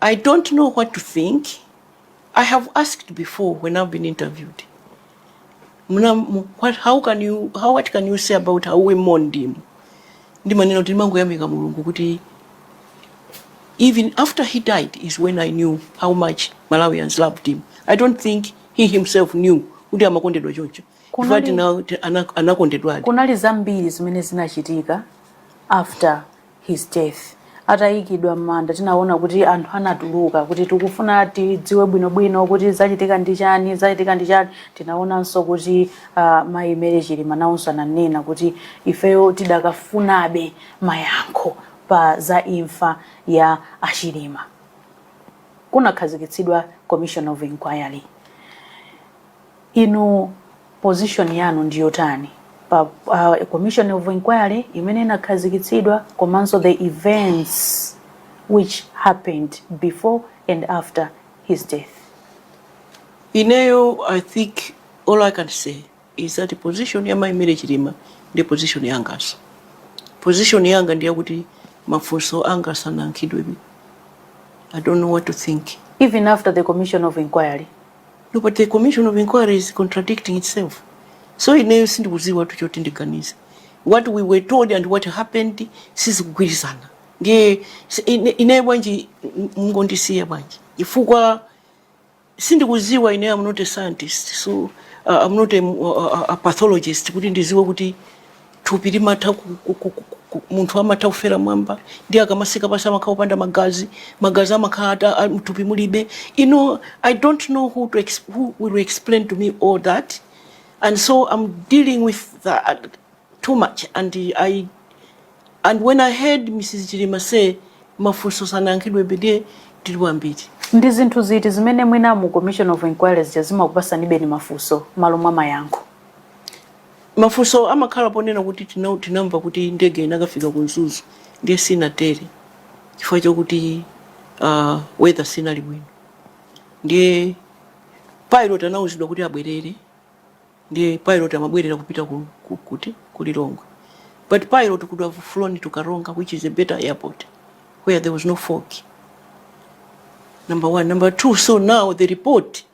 I don't know what to think, I have asked before when I've been interviewed, Muna, mu- what, how can you, how, what can you say about how we mourned him? Ndimanena kuti ndimangoyamika Mulungu kuti even after he died is when I knew how much Malawians loved him. I don't think he himself knew kuti amakondedwa choncho. Kunali- Ifati nawo ti- ana- anakondedwadi. kunali zambiri zimene zinachitika after his death. Atayikidwa m'manda tinawona kuti anthu anatuluka kuti tikufuna tidziwe bwinobwino kuti zachitika ndi chani, zachitika ndi chani. Tinawonanso kuti uh, mayi Mary Chilima nawonso ananena kuti ifeyo tidakafunabe mayankho pa za imfa ya Achilima. Kunakhazikitsidwa Commission of Inquiry. Inu position yanu ndi yotani pa uh, commission of inquiry imene inakhazikitsidwa komanso the events which happened before and after his death? Ineyo, I think all I can say is that position ya Mai Mary Chilima ndi position yanganso. Position yanga ndi yakuti mafunso anga sanayankhidwebe. I don't know what to think. Even after the commission of inquiry, No, but the commission of inquiry is contradicting itself. So ineyo sindikudziwa tu choti ndiganize. What we were told and what happened sizikugwirizana. Ndiye si- ine- ineyo bwanji m- mungondisiya bwanji. Chifukwa sindikudziwa ineyo I'm not a scientist. So uh, I'm not a, a, a pathologist kuti ndiziwe kuti thupi limatha ku- ku- ku- ku- ku- munthu amatha kufera mwamba ndiye akamasika pasi amakhala opanda magazi magazi amakhala ata- a- mthupi mulibe you know i don't know who, to ex who will explain to me all that and so i'm dealing with that too much and i and when i heard mrs chilima say mafunso sanayankhidwebe de tili wambiri ndi zinthu ziti zimene mwina mu commission of inquiry zimakupasanibeni mafunso malo mwa mayankho Mafunso amakhala ponena kuti tina, tinamva kuti ndege inakafika ku Mzuzu ndiye sinatere chifukwa chokuti uh, weather sinali bwino ndiye pilot anauzidwa kuti abwerere ndiye pilot amabwerera kupita ku, ku, kuti ku Lilongwe but pilot could have flown to Karonga which is a better airport where there was no fog number one number two so now the report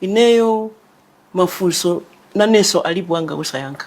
Ineyo mafunso nanenso alipo anga osayankha.